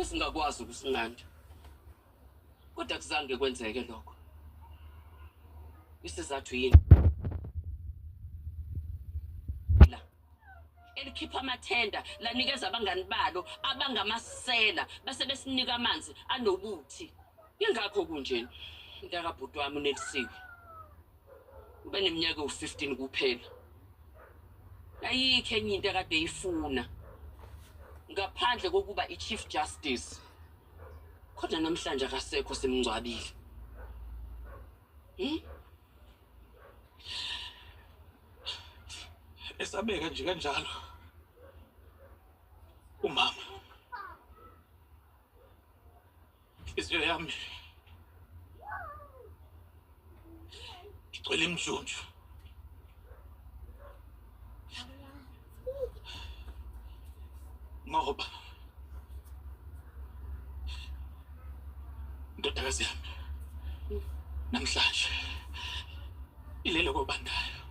esingakwazi ukusinqanda kodwa kuzange kwenzeke lokho isizathu yini elikhipha amathenda lanikeza abangani balo abangamasela base besinika amanzi anobuthi ingakho kunjena mntakabhuti wami unelisiwe ubeneminyaka ewu-15 kuphela ayikho enye into ekade eyifuna ngaphandle kokuba i-chief justice kodwa namhlanje akasekho simngcwabile hmm? esabeka nje kanjalo umama inhliziyo yami igcwele imjunju ngoba ndodakazi yami namhlanje Ilele kobandayo.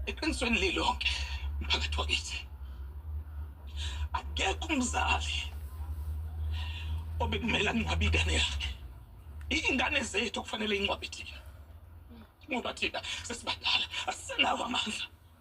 Eqinisweni lilonke mphakathi wakithi. Akekho umzali obekumele angcwabe ingane yakhe. Ingane zethu okufanele ingcwabe thina. Ngoba thina sesibadala asisenawo amandla.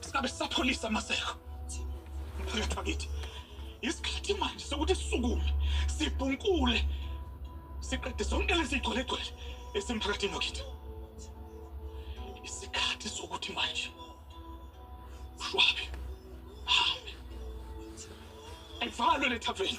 Singabe sapholisa amaseko. Mphakathi wakithi. Isikhathi manje sokuthi sisukume sibhunkule siqede zonke lezi gcwelegcwele esemphakathini wakithi. Isikhathi sokuthi manje ushwabe hambe. Ayivalwe le taveni.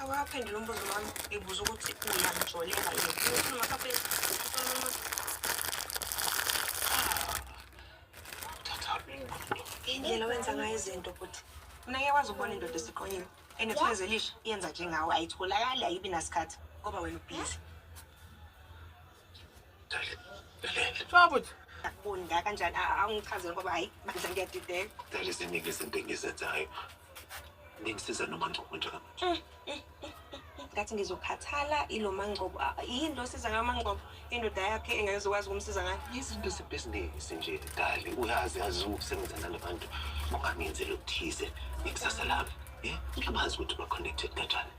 Awaphendula umbuzo wami ngibuza ukuthi uyamjolela yini. Ngifuna makaphe indlela wenza ngayo izinto futhi mina ngeke kwazi ukubona indoda esiqonyile enethweze lisha yenza njengawe ayitholakali ayibi nasikhathi ngoba wena ubhizi Shwabuthi. Akunda kanjani angichazele ngoba hayi bandla ngiyadideka. Dali ziningi izinto engizenzayo. Ningisiza noma ngcobo njengamanje. Mm, mm, mm, Ngathi ngizokhathala ilo mangcobo. Ah, Yini lo siza ngayo mangcobo? Indoda yakhe engeke zokwazi ukumsiza ngayo. Izinto zebhizinisi nje dali uyazi yazi ukusebenza nalabantu ungangenzeli okuthize ngekusasa lami. Eh, ngiyabazi ukuthi ba-connected kanjani.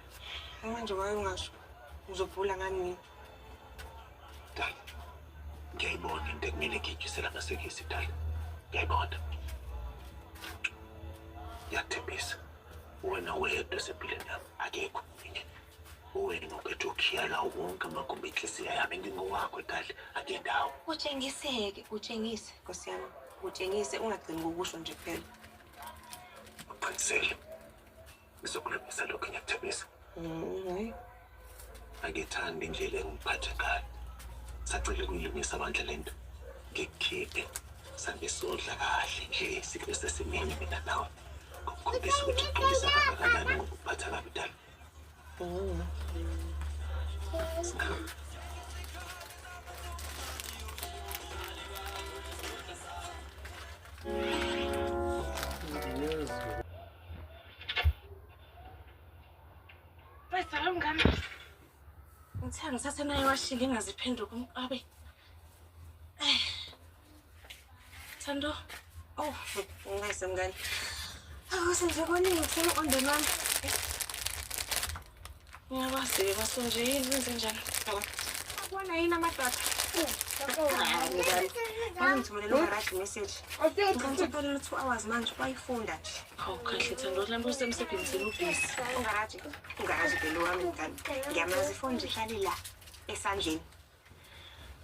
Manje wayo ungasho. Uzobhula ngani mina? Dala. Ngiyayibona into ekumele ngiyijusele amasekisi dala. Ngiyayibona. Ngiyathembisa. Wena wedwa esempilweni yami akekho omunye. Wena uphethe ukhiyala wonke amagumbi enhliziyo yami ngingowakho dala akendawo. Utshengiseke, utshengise Nkosi yami. Utshengise ungagcini ngokusho nje kuphela. Uqinisele. Ngizokulungisa lokhu ngiyakuthembisa. Mm, Angithandi indlela engiphathe ngayo. Sacela ukuyilungisa bandla lento. Ngikukhiphe sambe sodla kahle nje sikube sesimini mina nawe. Ngikukhombisa ukuthi ngigqokisa kangakanani ngokuphatha kabi dala. Mm. Singahamba. Wezala mngane. Ngithe ngisase naye washila ingaziphenduka umqabe. Eh. Thando. Oh, ngase mngane. Awu senze koningi ngifuna on demand. Ngiyabazile basunjini benze njani? Akubona yini amadoda? Angithumelele umarashi message. Ngicela two hours manje bayifunda nje. Hawu kahle thando lambe usemsebenzini ubhizi. Ungaraji. Ungaraji belo wami ngani. Ngiyamazi ifoni nje ihlale la esandleni.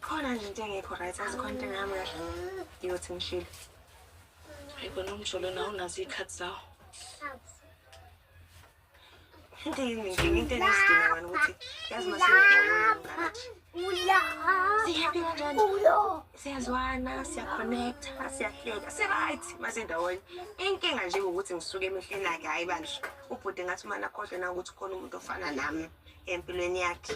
Khona nje into engekho right azikho into engami kahle. Ngiyothi ngishilo. Hayi kona umjolo nawo unazo iy'khathi zawo. siyazwana siyaconnecta siyahleka si-right masendawonye inkinga nje ukuthi ngisuke emehleni akhe hhayi bandla ubhude ngathi umane akhohlwe nangokuthi khona umuntu ofana nami empilweni yakhe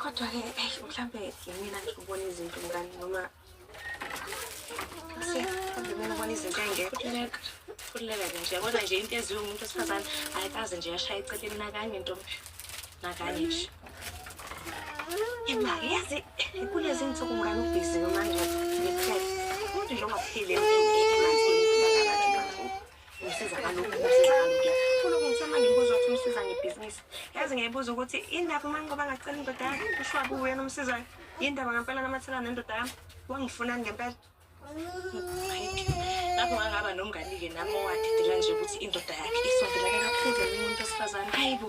kodwa-ke mhlawumbe yimina ngikubona izinto ngani noma Khululeka ke nje kodwa nje into eziwe umuntu wesifazane ayikaze nje yashaya eceleni nakanye ntombi nakanye nje imali yazi kulezi nsuku ngani ubhiziwe manje ngiphele umuntu nje ongaphile emanzini Ngisizakala ukuthi ngifuna ukuthi uma ngibuza ukuthi umsiza ngebhizinisi yazi ngiyayibuza ukuthi indaba uma ngoba ngacela indoda yami kushiwa kuwe yena umsizayo yindaba ngempela namathela nendoda yami wangifunani ngempela lapho ngangaba nomngani-ke nami owadidela nje ukuthi indoda yakhe isondelane kakhulu nomuntu wesifazane hayi bo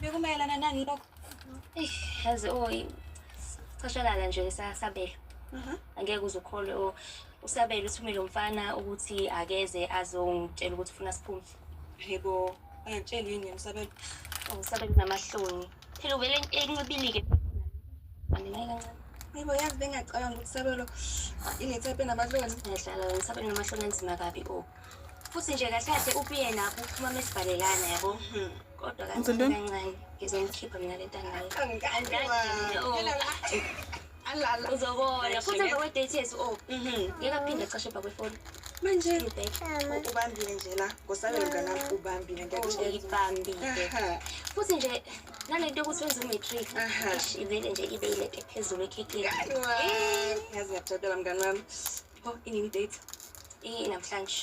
bekumayelana nani lokho yazi o cashakala nje sabelo angeke uze ukholwe o usabelo uthumele umfana ukuthi akeze azongitshela ukuthi ufuna siphume yebo angitsheli yini yena usabelo usabelo namahloni phela uvele enqibile-ke Yebo yazi bengacabanga ukuthi sabelo inethephe nabahlona. Ngiyahlala wena sabelo namahlona anzima kabi o. Oh. Futhi nje kahle kahle ubuye nakho uphuma mesibhalelana yabo. Hmm. Kodwa kancane kancane ngizomkhipha mina lentanga. Angikanje. Oh. alala uzobona futhi emva kwe-date yethu o ngeke aphinde acashe bha kwefoni manje ubambile nje la ngosabela mnganami ubambile ngiyakubambile futhi nje nale nto yokuthi wenza umatric ivele nje ibe ileke phezulu ekhekeni yazi ngiyakujabela mngani wami o inini date inamhlanje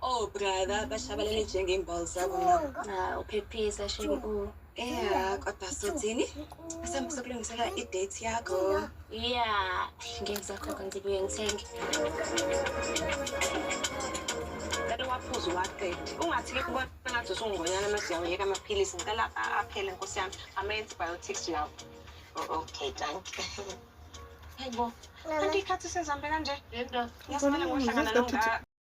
Oh brother bashabalele njengey'mbali zabo nabo. Uphephisa shenge u. Yeah, kodwa sothini? Asambe sokulungisela i-date yakho. Yeah, ngeke ngisakhokha ngibuye ngithenge. Ngicela uwaphuze uwaqede. Ungathi ke kubona ngathi usungonyana uma siyawuyeka amaphilisi. Ngicela a- aphele nkosi yami. Ama-antibiotics lawo. O- Okay, danke. Hayibo. Kanti ikhathi sezihambe kanje. Yento. Ngiyasimane ngohlangana nonga.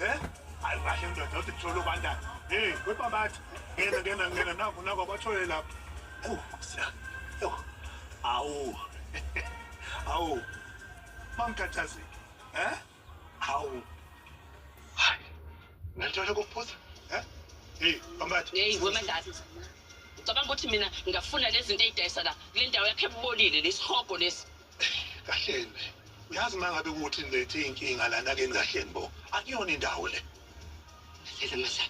Eh? Hayi kahle ndoda uthi kuthola ubandana. Hey, webabathi. Ngena ngena ngena naku naku abathole lapho. Oh, siya. Yo. Awu. Awu. Mamkhathazeki. Eh? Awu. Hayi. Ngithola ukuphuza. Eh? Hey, bambathi. Hey, wemandati. Ucabanga ukuthi mina ngingafuna lezi zinto ezidayisa la kule ndawo yakhe ebubolile lesihogo lesi. kahleni uyazi uma ngabe kuthi nilethe iy'nkinga lana keni kahleni bo akuyona indawo le Lele masa,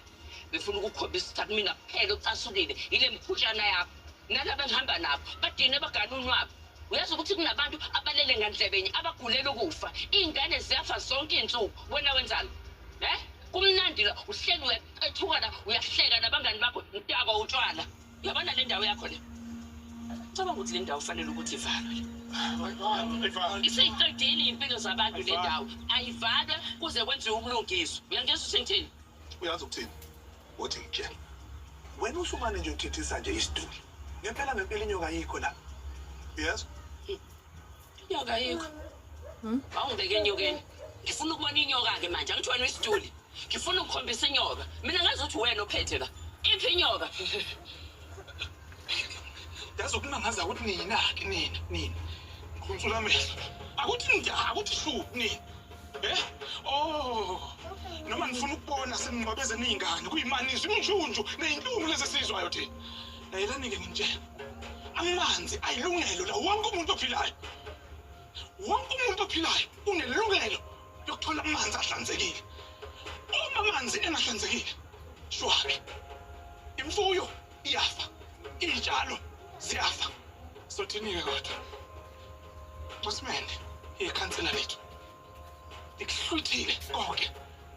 befuna ukukhombisa ukuthi akumina kuphela ocasukile yile mphutshana yakho. Nalaba engihamba nabo badine bagane unwabu. Uyazi ukuthi kunabantu abalele ngandlebenye abagulela ukufa. Iy'ngane ziyafa zonke iy'nsuku. Wena wenzani? Eh? Kumnandi la uhleli uyaqethukana uyahleka nabangani bakho mdakwa utshwala. Yabona le ndawo yakho le. Cabanga ukuthi le ndawo fanele ukuthi ivalwe. Isiqedile impilo zabantu le ndawo. Ayivalwe kuze kwenziwe ubulungiswa. Uyangizwa uthini? Uyazi ukuthini? Uthi ngitshela. Wena usumane nje uthithisa nje isiduli. Ngempela ngempela inyoka ayikho la. Yes. Inyoka yikho. Hmm? Awungibeke enyokeni. Ngifuna ukubona inyoka ke manje angithi wena isituli. Ngifuna ukukhombisa inyoka. Mina ngazi ukuthi wena ophethe la. Iphi inyoka? Yazi ukunangaza ukuthi nina ke nina nina. Ngikhulumela amehlo. Akuthi nja akuthi shu nina. Eh? Oh. Noma ngifuna ukubona seningqwabeze ningane kuyimani izinjunju nezinhlungu lezi sizwayo thina. Nayelani ke ngimtshela. amanzi ayilungelo la wonke umuntu ophilayo wonke umuntu ophilayo unelungelo lokuthola amanzi ahlanzekile uma amanzi engahlanzekile shwabe imfuyo iyafa iy'tshalo ziyafa sothini-ke kodwa ncosimende ikhansela lethu likuhlwithile konke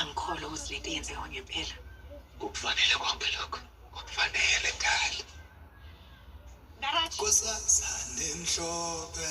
angikholwa ukuthi lento yenzeka ngempela kukufanele konke lokho kukufanele kali Narathi. kusasa nemhlophe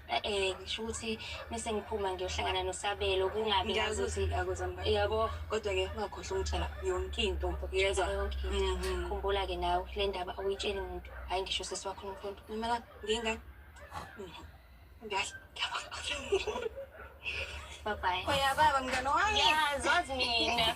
Eh ngisho ukuthi mese ngiphuma ngiyohlangana noSabelo kungabi ngazi ukuthi akuzamba. Yabo kodwa ke ungakhohlwa umtshela yonke into yezwa. Mhm. Khumbula ke nawe le ndaba awuyitsheli umuntu. Hayi ngisho sisi wakho nomfundo. Ngimela nginga. Mhm. Ngiyazi. Bye bye. Oya baba mngane wami. Yazi wazi mina.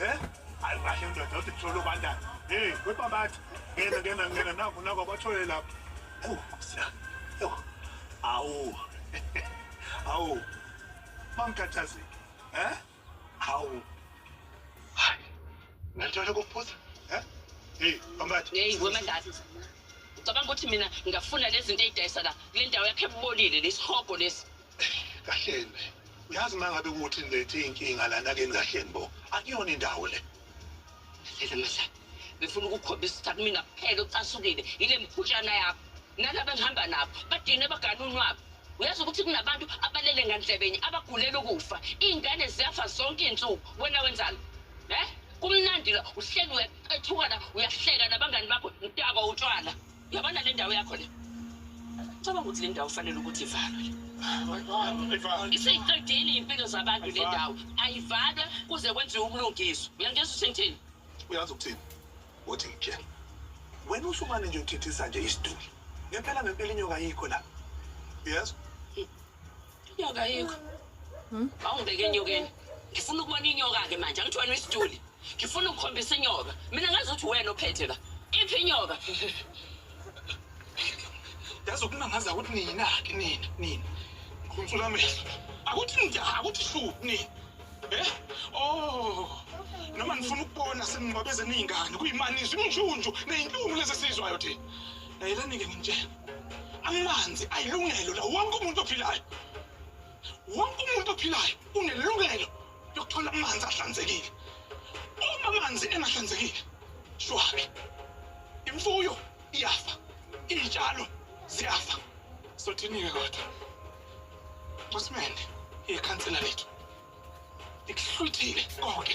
Eh? Hayi kahle ndoda uthi kuthola ubandana. Hey, webabathi. Ngena ngena ngena naku naku abathole lapho. Oh, siya. Yo. Awu. Awu. Mangikhathazeki. Eh? Awu. Hayi. Ngithola kuphuza. Eh? Hey, bambathi. Hey, wemandathi. Ucabanga ukuthi mina ngingafuna lezi zinto ezidayisa la kule ndawo yakhe ebolile lesihogo lesi. kahleni uyazi uma ngabe kuthi nilethe iy'nkinga lana keni kahleni bo akuyona indawo le Lele masa, ngifuna ukukhombisa ukuthi akumina kuphela ocasukile yile mphutshana yakho. Nalaba engihamba nabo badine bagane unwabu. Uyazi ukuthi kunabantu abalele ngandlebenye abagulela ukufa. Iy'ngane ziyafa zonke iy'nsuku. Wena wenzani? Eh? Kumnandi la uhleli uyaqethukana uyahleka nabangani bakho mtakwa utshwala. Yabona le ndawo yakho le. Cabanga ukuthi le ndawo kufanele ukuthi ivalwe. Isiqedile impilo zabantu le ndawo. Ayivalwe kuze kwenziwe ubulungiswa. Uyangizwa usengithini? Uyazi ukuthini? Uthi ngitshela. Wena usumane nje uthithisa nje isiduli. Ngempela ngempela inyoka ayikho la. Yes. Inyoka ayikho. Hmm? Awungibeke enyokeni. Ngifuna ukubona inyoka ke manje, angithi wena isiduli. Ngifuna ukukhombisa inyoka. Mina ngazi ukuthi wena ophethe la. Iphi inyoka? Yazi ukunangaza ukuthi nina ke nina, nina. Ngikhonsula amehlo. Akuthi nja, akuthi shu nina. Eh? Oh. Noma nifuna ukubona seningcwabezeni izingane kuyimani izinjunju nezinhlungu lezi sizwayo thina. Layelanike nginitshela amanzi ayilungelo la wonke umuntu ophilayo wonke umuntu ophilayo unelungelo lokuthola amanzi ahlanzekile uma amanzi engahlanzekile shwabe imfuyo iyafa iy'tshalo ziyafa sothini-ke kodwa masimende ikhansela lethu likuhlwithile konke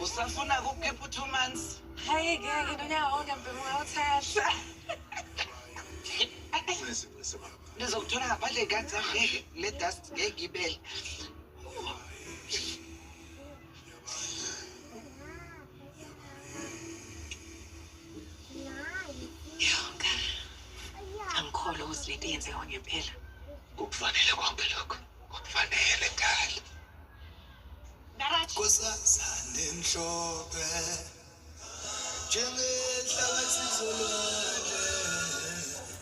Usafuna kukhipha u-two months? Hayi ngeke nonyaka wonke mbhemu ngawuthatha. Ngizokuthola ngaphandle kanti ngeke le dust ngeke ibele. angikholwa ukuthi lento yenzeka ngempela kukufanele konke lokho kukufanele kali kusasane mhlophe njengenhlabathi zolwandle